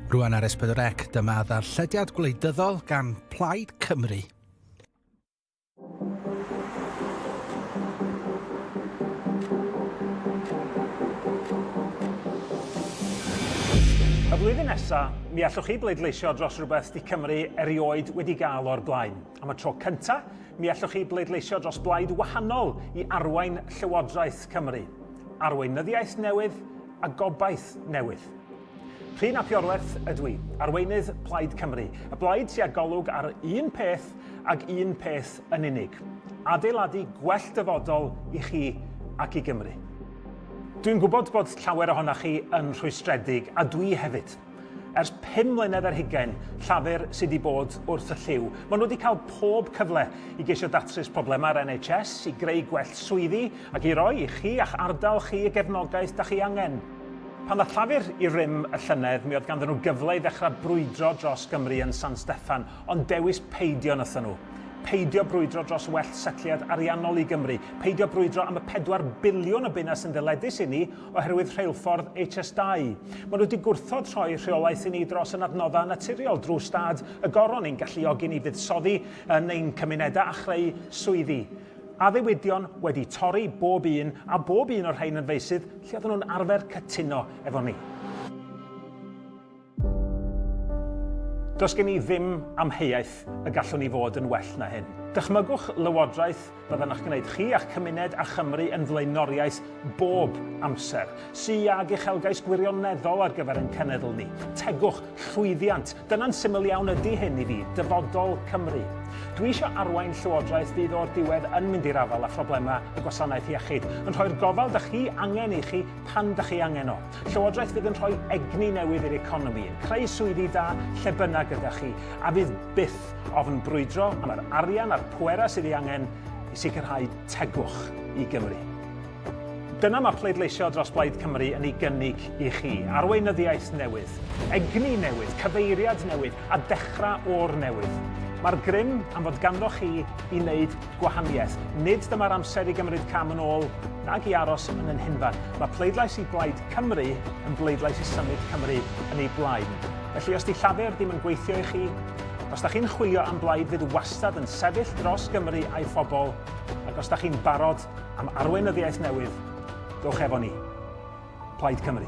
Rwan ar Esbydrec, dyma ddarllediad gwleidyddol gan Plaid Cymru. Y flwyddyn nesaf, mi allwch chi bleidleisio dros rhywbeth 'di Cymru erioed wedi gael o'r blaen. Am y tro cyntaf, mi allwch chi bleidleisio dros blaid wahanol i arwain Llywodraeth Cymru. Arweinyddiaeth newydd a gobaith newydd. Rhun ap Iorwerth ydw i, arweinydd Plaid Cymru, y blaid sy â golwg ar un peth ag un peth yn unig, adeiladu gwell dyfodol i chi ac i Gymru. Dwi'n gwybod bod llawer ohonoch chi yn rhwystredig, a dwi hefyd. Ers pum mlynedd ar hugain, Llafur sydd wedi bod wrth y llyw. Maen nhw wedi cael pob cyfle i geisio datrys problemau'r NHS, i greu gwell swyddi ac i roi i chi a'ch ardal chi y gefnogaeth da chi angen. Pan ddaeth Llafur i rym y llynedd, mi oedd ganddyn nhw gyfle i ddechrau brwydro dros Gymru yn San Steffan, ond dewis peidio wnaethon nhw. Peidio brwydro dros well setliad ariannol i Gymru, peidio brwydro am y pedwar biliwn o bunna sy'n ddyledus inni oherwydd rheilffordd HS2. Maen nhw wedi gwrthod rhoi rheolaeth i ni dros y nadnoddau naturiol drwy stad y goron i'n galluogi ni fuddsoddi yn ein cymunedau a chreu swyddi. Addewidion wedi torri bob un a bob un o'r rhain yn feysydd lle oedden nhw'n arfer cytuno efo ni. Does gen i ddim amheuaeth y gallwn ni fod yn well na hyn. Dychmygwch Lywodraeth fyddan a'ch gwneud chi a'ch cymuned a Chymru yn flaenoriaeth bob amser, sy ag uchelgais gwirioneddol ar gyfer ein cenedl ni. Tegwch, llwyddiant, dyna'n syml iawn ydy hyn i fi, dyfodol Cymru. Dwi eisiau arwain Llywodraeth fydd o'r diwedd yn mynd i'r afael â phroblemau y gwasanaeth iechyd, yn rhoi'r gofal 'da chi angen i chi pan dych chi angen o. Llywodraeth fydd yn rhoi egni newydd i'r economi, yn creu swyddi da lle bynnag gyda chi, a fydd byth ofn brwydro am yr arian a'r pwerau sydd ei angen i sicrhau tegwch i Gymru. Dyna mae pleidleisio dros Blaid Cymru yn ei gynnig i chi, arweinyddiaeth newydd, egni newydd, cyfeiriad newydd a dechrau o'r newydd. Mae'r grym am fod ganddoch chi i wneud gwahaniaeth. Nid dyma'r amser i gymryd cam yn ôl nag i aros yn ein hunfan. Mae pleidlais i Blaid Cymru yn bleidlais i symud Cymru yn ei blaen. Felly, os 'di Llafur ddim yn gweithio i chi, os 'da chi'n chwilio am blaid fydd wastad yn sefyll dros Gymru a'i phobl, ac os 'da chi'n barod am arweinyddiaeth newydd, dowch efo ni. Plaid Cymru.